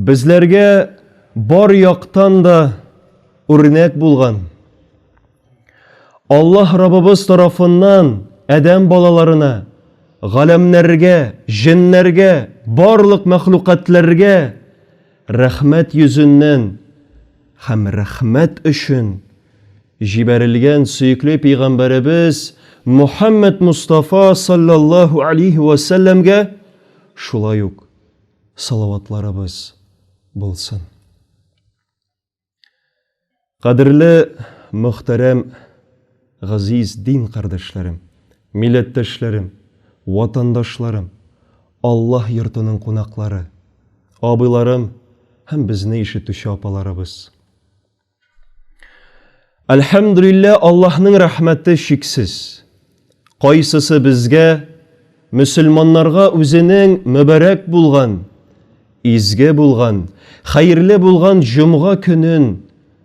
Безләргә бар яктан да үрнәк булган. Аллаһ Раббыбыз тарафыннан адәм балаларына, галәмнәргә, җеннәргә, барлык мәхлукатларга рәхмәт йөзеннән Һәм рәхмәт өчен җибәрелгән сөекле пәйгамбәребез Мухаммәд Мустафа салләллаһу алейһи вә сәлләмгә шулай ук салаватларыбыз булсын. Кадерле мөхтәрәм Газиз дин кардәшләрем, милләттәшләрем, ватандашларым, Аллаһ йортының кунаклары, абыйларым һәм безне ишетүче апаларыбыз! Әлхәмдүлиллә, Аллаһның рәхмәте чиксез! Кайсысы безгә, мөселманнарга үзенең мөбарәк булган, изге булган, хәерле булган җомга көнен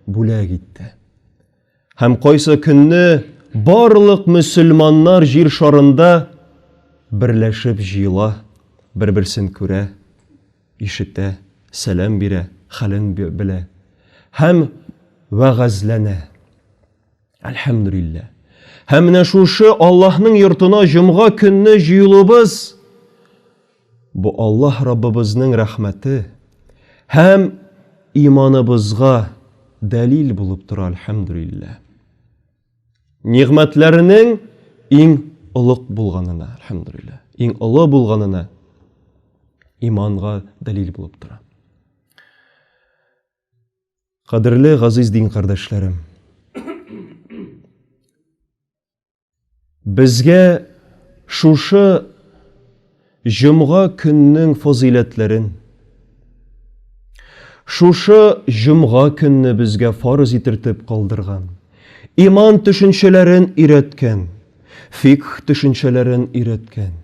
бүләк итте? Һәм кайсы көнне барлык мөселманнар җир шарында берләшеп җыела, бер-берсен күрә, ишетә, сәлам бирә, хәлен белә һәм вәгазьләнә. Әлхәмдүлилләһ. Һәм менә шушы Аллаһның йортына җомга көнне җыелуыбыз Бу Аллаһ Раббыбызның рәхмәте һәм иманыбызга дәлил булып тора, әлхәмдүлилләһ. Нигъмәтләренең иң олуг булганына, әлхәмдүлилләһ, иң олы булганына иманга дәлил булып тора. Кадерле газиз дин кардәшләрем, Безгә шушы җомга көннең фазыйләтләрен, шушы җомга көнне безгә фарыз итертеп калдырган, иман төшенчәләрен өйрәткән, фикх төшенчәләрен өйрәткән,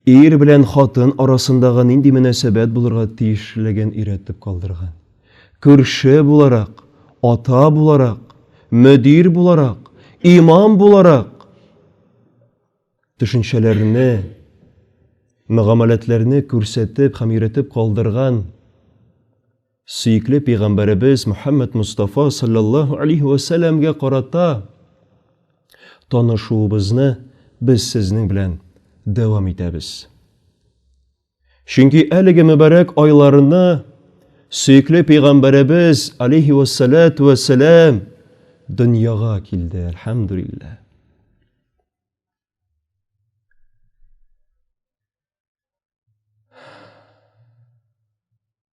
Ир белән хатын арасындагы нинди мөнәсәбәт булырга тиешлеген өйрәтеп калдырган. Күрше буларак, ата буларак, мөдир буларак, имам буларак төшенчәләрне, мөгамәләтләрне күрсәтеп һәм өйрәтеп калдырган. Сөекле пәйгамбәребез Мөхәммәд Мустафа саллаллаһу алейһи ва сәлләмгә карата танышуыбызны без сезнең белән дәвам итәбез. Чөнки әлеге мөбарәк айларны сөекле пәйгамбәребез алейһи ва саллату ва сәллам дөньяга килде, әлхәмдүлилләһ.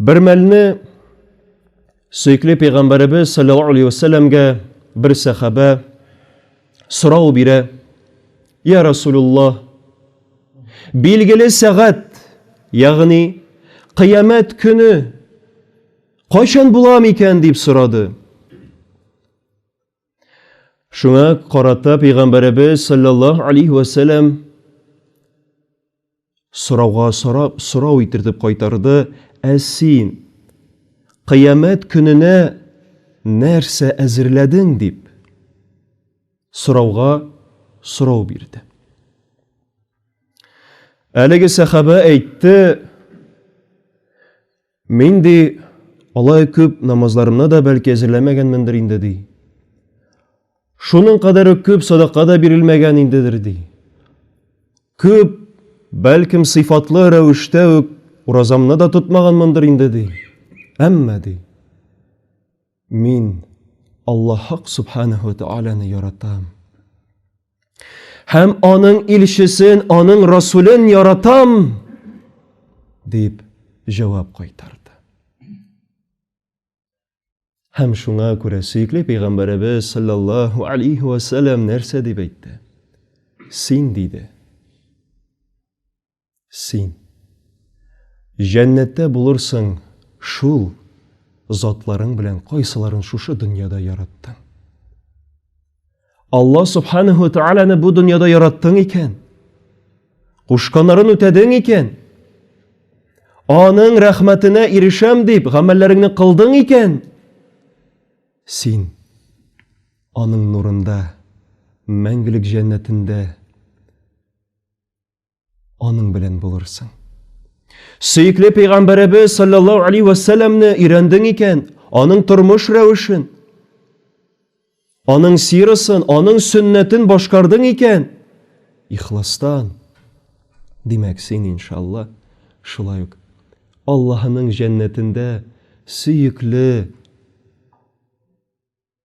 Бер мәлне сөекле пәйгамбәребез саллаллаху алейхи вәсәлләмгә бер сәхабә сорау бирә. Я Расулуллах, билгеле сәгать, ягъни кыямәт көне кайчан була микән дип сорады. Шуңа карата пәйгамбәребез саллаллаһу алейхи ва сәлләм сорауга сорап сорау итертеп кайтарды, "Ә син кыямәт көненә нәрсә әзерләдең?" дип сорауга сорау бирде. Әлеге сәхабә әйтте, Мин, ди, алай күп намазларымны да бәлки әзерләмәгәнмендер инде, ди. Шуның кадәр үк күп садака да бирелмәгән индедер, ди. Күп, бәлкем, сыйфатлы рәвештә үк уразамны да тотмаганмындыр инде, ди. Әмма, ди, Мин Аллаһ Субханәһү ва Тәгаләне яратам. Һәм аның илчесен, аның расулен яратам, дип җавап кайтарды. Һәм шуңа күрә сөекле пәйгамбәребез саллаллаһу алейхи ва сәлләм нәрсә дип әйтте? Син диде. Син. Җәннәттә булырсың шул затларың белән кайсыларын шушы дөньяда яраттың. Алла субханаху тәгаләне бу дөньяда яраттың икән, кушканнарын үтәдең икән, аның рәхмәтенә ирешәм дип гамәлләреңне кылдың икән, син аның нурында, мәңгелек җәннәтендә аның белән булырсың. Сөекле пәйгамбәребез саллаллаһу алейхи ва салламны өйрәндең икән, аның тормыш рәвешен, аның сирасын, аның сөннәтен башкардың икән, ихластан, димәк, син иншалла, шулай ук Аллаһының җәннәтендә сөекле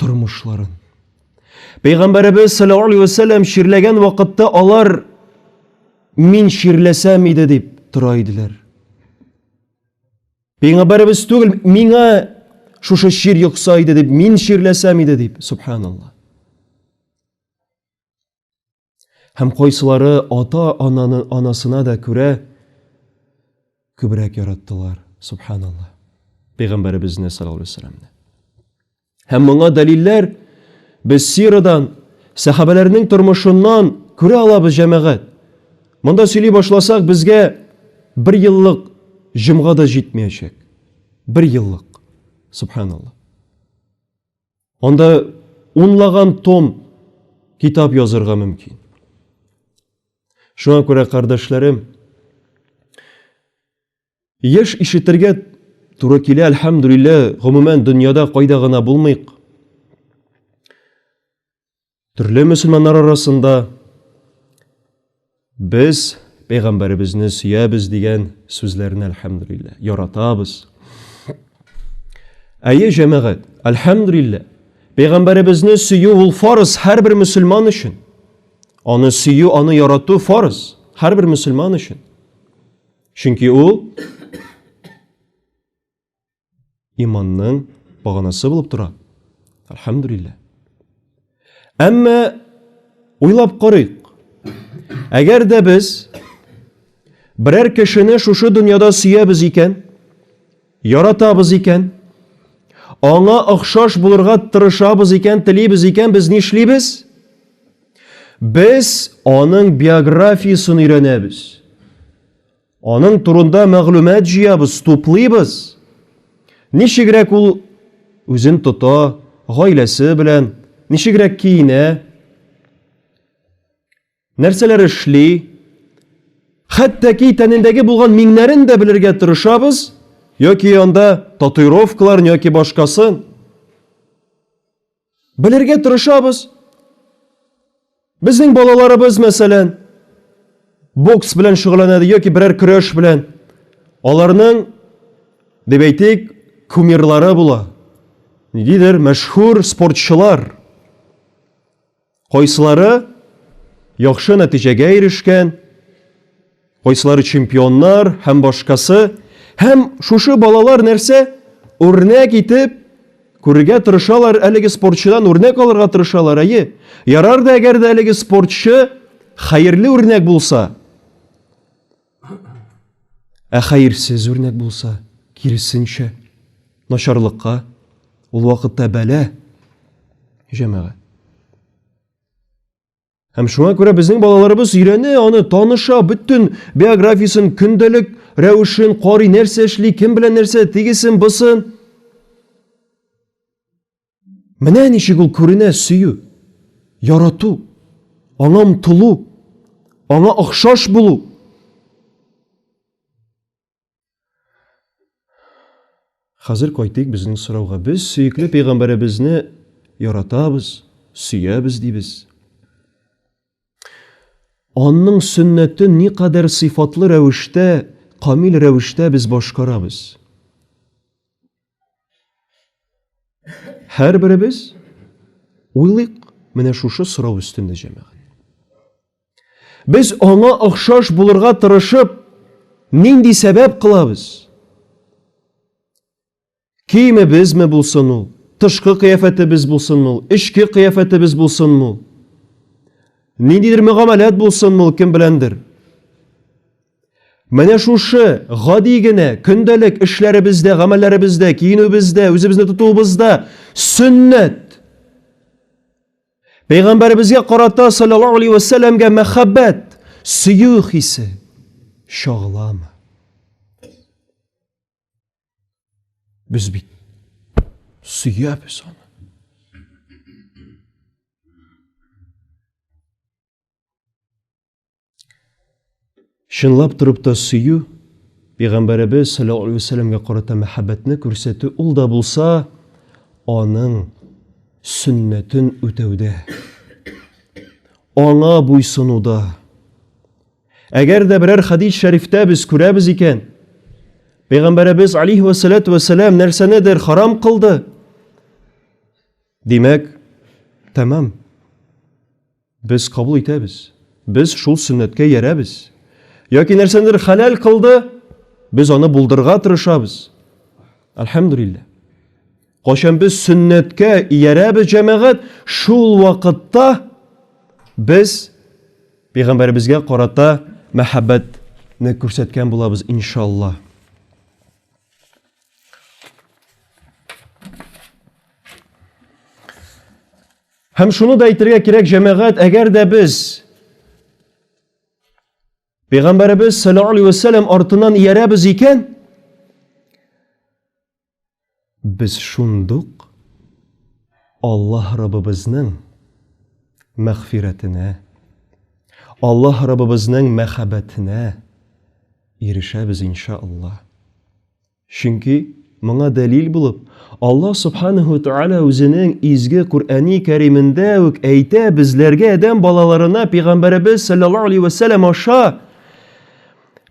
тормышларын. Пәйгамбәребез саллаллаху алейхи вәсәлләм чирләгән вакытта алар мин чирләсәм иде дип тора иделәр. Пәйгамбәребез түгел, миңа шушы чир йокса иде дип, мин чирләсәм иде дип, субханалла. Һәм кайсылары ата-ананы анасына да күрә күбрәк яраттылар. Субханаллаһ. Пәйгамбәребезне саллаллаһу алейһи вәсәлләмне. Һәм моңа дәлилләр без сирадан, сәхабәләрнең тормышыннан күрә алабыз, җәмәгать. Монда сөйли башласак, безгә бер еллык җомга да җитмәячәк. Бер еллык. Субханаллаһ. Анда унлаган том китап язырга мөмкин. Шуңа күрә, кардәшләрем, еш ишетергә туры килә, әлхәмдүлиллә, гомумән дөньяда кайда гына булмыйк. Төрле мөселманнар арасында без пәйгамбәребезне сөябез дигән сүзләрне әлхәмдүлиллә яратабыз. Әйе, җәмәгать, әлхәмдүлиллә, пәйгамбәребезне сөю ул фарыз һәрбер мөселман өчен. Аны сөю, аны ярату фарыз һәрбер мөселман өчен. Чөнки ул иманның баганасы булып тора. Әлхәмдүлилләһ. Әмма уйлап карыйк. Әгәр дә без берәр кешене шушы дөньяда сөябез икән, яратабыз икән, аңа охшаш булырга тырышабыз икән, телибез икән, без нишлибез? Без аның биографиясен өйрәнәбез. Аның турында мәгълүмат җыябыз, туплыйбыз. Ничегрәк ул үзен тота, гаиләсе белән, ничегрәк киенә, нәрсәләр эшли, хәтта ки тәнендәге булган миңнәрен дә белергә тырышабыз, яки анда татуировкаларын яки башкасын. Белергә тырышабыз. Безнең балаларыбыз, мәсәлән, бокс белән шөгыльләнәде яки берәр көрәш белән. Аларның, дип әйтик, кумирлары була. Нидидер мәшһүр спортчылар. Кайсылары яхшы нәтиҗәгә ирешкән, кайсылары чемпионнар һәм башкасы. Һәм шушы балалар нәрсә? Үрнәк итеп күрергә тырышалар, әлеге спортчыдан үрнәк алырга тырышалар. Әйе, ярар да әгәр дә әлеге спортчы хәерле үрнәк булса. Ә хәерсез үрнәк булса, киресенчә, начарлыкка, ул вакытта бәлә, җәмәгать. Һәм шуңа күрә безнең балаларыбыз өйрәнә, аны таныша, бөтен биографиясен, көндәлек рәвешен карый, нәрсә эшли, кем белән нәрсә, тигесен, бысын. Менә ничек ул күренә сөю, ярату, аңа омтылу, аңа охшаш булу. Хәзер кайтыйк безнең сорауга. Без сөекле пәйгамбәребезне яратабыз, сөябез дибез. Анның сөннәтен никадәр сыйфатлы рәвештә, камил рәвештә без башкарабыз. Һәрберебез уйлыйк менә шушы сорау өстендә җәмәгать. Без аңа охшаш булырга тырышып, нинди сәбәп кылабыз? Киемебезме булсын ул, тышкы кыяфәтебез булсын ул, эчке кыяфәтебез булсын ул, ниндидер мөгамәләт булсын ул кем беләндер. Менә шушы гади генә көндәлек эшләребездә, гамәлләребездә, киенүебездә, үзебезне тотуыбызда сөннәт. Пәйгамбәребезгә карата саллаллаһу алейһи ва сәлләмгә мәхәббәт, сөю хисе чагыламы? Без бит сөябез аны. Чынлап торып та сөю, Пәйгамбәребез саллаллаху алейһи вәсәлләмгә карата мәхәббәтне күрсәтү ул да булса аның сөннәтен үтәүдә, аңа буйсынуда. Әгәр дә берәр хадис шәрифтә без күрәбез икән, Пәйгамбәребез алейһи вәсәләту вәсәләм нәрсәнедер харам кылды. Димәк, тәмам. Без кабул итәбез. Без шул сөннәткә ярәбез. Яки нәрсәндер хәләл кылды, без аны булдырга тырышабыз. Әлхәмдулиллә. Качан без сөннәткә иярәбез җәмәгать, шул вакытта без пәйгамбәребезгә карата мәхәббәт не күрсәткән булабыз иншалла. Һәм шуны да әйтергә кирәк, җәмәгать, әгәр дә без Пәйгамбәребез саллаллаху алейхи вәсәләм артынан иярәбез икән, без шундук Аллаһ Раббыбызның мәгъфирәтенә, Аллаһ Раббыбызның мәхәббәтенә ирешәбез иншаллаһ. Чөнки, моңа дәлил булып, Аллаһ Субханәһу ва Тәгалә үзенең изге Коръәни Кәримендә үк әйтә, безләргә адәм балаларына пәйгамбәребез саллаллаһу алейһи ва сәлләм аша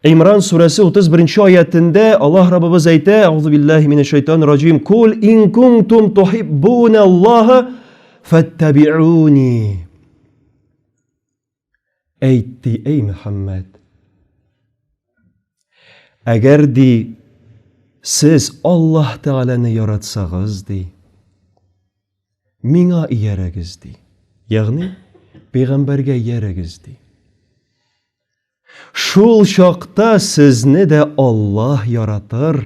Имран сүрәсе 31 аятендә Аллаһ Раббыбыз әйтә: "Аузу биллаһи минәш шайтан раҗим. Кул ин кунтум тухиббуналлаһа фаттабиуни". Әйт, ди, әй Мөхәммәд. Әгәр, ди, сез Аллаһ Тәгаләне яратсагыз, ди, миңа иярәгез, ди. Ягъни, пәйгамбәргә иярәгез, ди. Шул чакта сезне дә Аллаһ яратыр.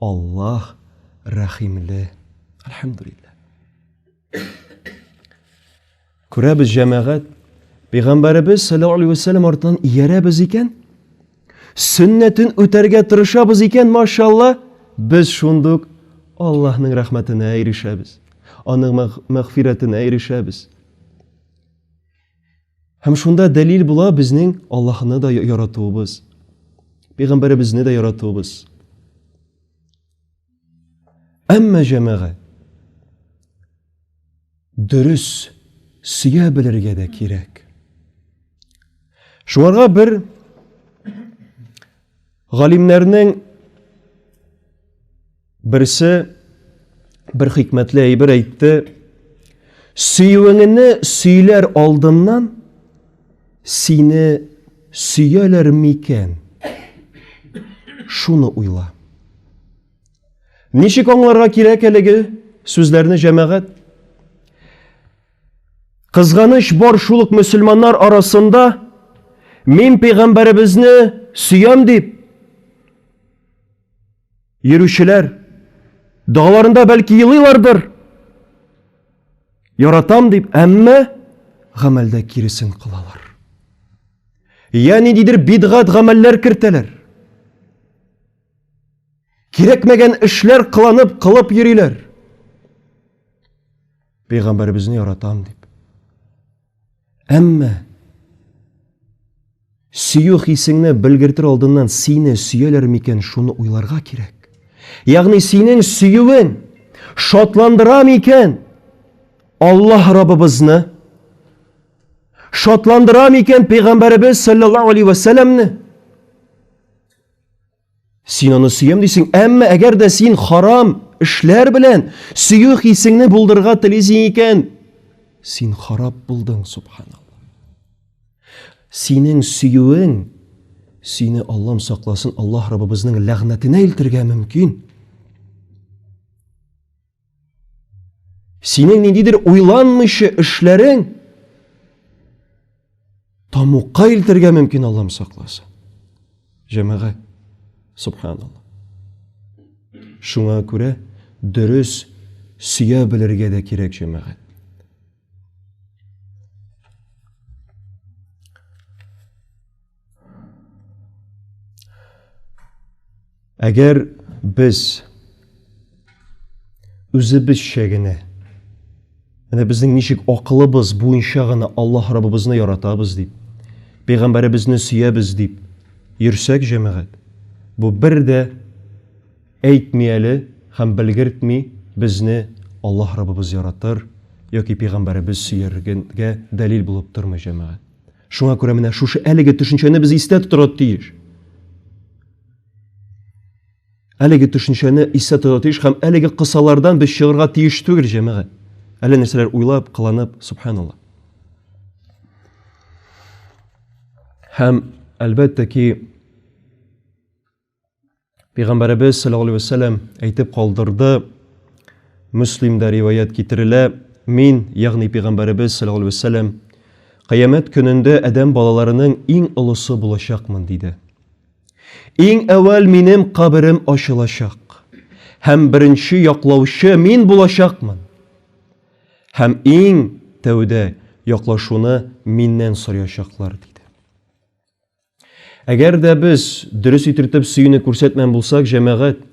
Аллаһ рәхимле. Әлхәмдулиллаһ. Күрәбез җәмәгать, Пәйгамбәребез саллаллаху алейхи вәсәлләм артыннан иярәбез икән, сөннәтен үтәргә тырышабыз икән, машалла, без шундук Аллаһның рәхмәтенә ирешәбез, аның мәгъфирәтенә ирешәбез. Һәм шунда дәлил була безнең Аллаһны да яратуыбыз, пәйгамбәребезне дә яратуыбыз. Әмма җәмәгә дөрес сөя белергә дә кирәк. Шуңарга бер галимнәрнең Берсе бер хикмәтле әйбер әйтте. Сөюеңне сөйләр алдыннан сине сөяләр микән? Шуны уйла. Ничек аңларга кирәк әлеге сүзләрне җәмәгать? Кызганыч бар шул ук мөселманнар арасында мин пәйгамбәребезне сөям дип Йөрүчеләр догаларында бәлки елыйлардыр. Яратам дип, әмма гамәлдә киресен кылалар. Я ниндидер бидгат гамәлләр кертәләр. Кирәкмәгән эшләр кыланып, кылып йөриләр. Пәйгамбәребезне яратам дип. Әмма сөю хисеңне белгертер алдыннан сине сөяләр микән шуны уйларга кирәк. Ягъни синең сөюен шатландыра микән Аллаһ Раббыбызны? Шатландыра микән пәйгамбәребез саллаллаһу алейхи ва салламны? Син аны сөям дисең, әмма әгәр дә син харам эшләр белән сөю хисеңне булдырырга телисең икән, син харап булдың, субханалла. Синең сөюең сине Аллам сакласын, Аллаһ Раббыбызның ләгънәтенә илтергә мөмкин. Синең ниндидер уйланмыйча эшләрең тамукка илтергә мөмкин Аллам сакласын. Җәмәгать, субханалла. Шуңа күрә дөрес сөя белергә дә кирәк җәмәгать. Әгәр без үзебезчә генә менә безнең ничек акылыбыз буенча гына Аллаһ Раббыбызны яратабыз дип, пәйгамбәребезне сөябез дип йөрсәк, җәмәгать, бу бер дә әйтми әле һәм белгертми безне Аллаһ Раббыбыз яратыр яки пәйгамбәребез сөяргә дәлил булып тормый, җәмәгать. Шуңа күрә менә шушы әлеге төшенчәне без истә тотарга тиеш. Әлеге төшенчәне истә тотарга тиеш һәм әлеге кысалардан без чыгарга тиеш түгел, җәмәгать. Әле нәрсәләр уйлап, кыланып, субханалла. Һәм әлбәттә ки, Пәйгамбәребез саллаллаху алейһи вәсәлләм әйтеп калдырды, Муслимда риваять китерелә, мин, ягъни пәйгамбәребез саллаллаху алейһи вәсәлләм, кыямәт көнендә адәм балаларының иң олысы булачакмын диде. Иң әвәл минем каберем ачылачак һәм беренче яклаучы мин булачакмын. Һәм иң тәүдә яклашуны миннән сорячаклар диде. Әгәр дә без дөрес итертеп сөюне күрсәтмән булсак, җәмәгать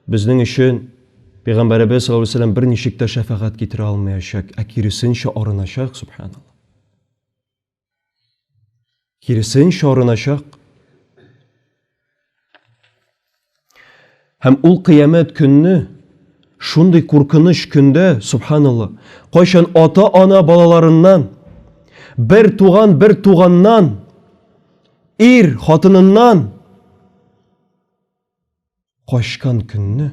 безнең өчен Пәйгамбәребез саллаллаһу алейһи вәсәлләм берничек тә шәфәгать китерә алмаячак, ә киресенчә арыначак, субханаллаһ. Киресенчә арыначак. Һәм ул кыямәт көнне шундый куркыныч көндә, субханалла, кайчан ата-ана балаларыннан, бер туган бер туганнан, ир хатыныннан качкан көнне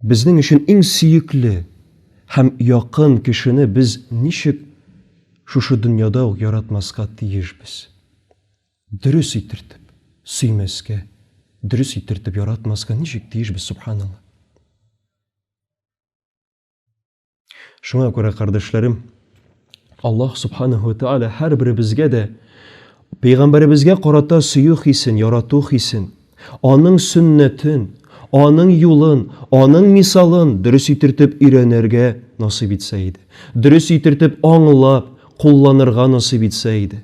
безнең өчен иң сөекле һәм якын кешене без ничек шушы дөньяда ук яратмаска тиешбез? Дөрес итертеп сөймәскә, дөрес итертеп яратмаска ничек тиеш без, субханалла. Шуңа күрә, кардәшләрем, Аллаһ субханаһу тааля һәрберебезгә дә пәйгамбәребезгә карата сөю хисен, ярату хисен, аның сөннәтен, аның юлын, аның мисалын дөрес итертеп өйрәнергә насыйп итсә иде. Дөрес итертеп аңлап, кулланырга насыйп итсә иде.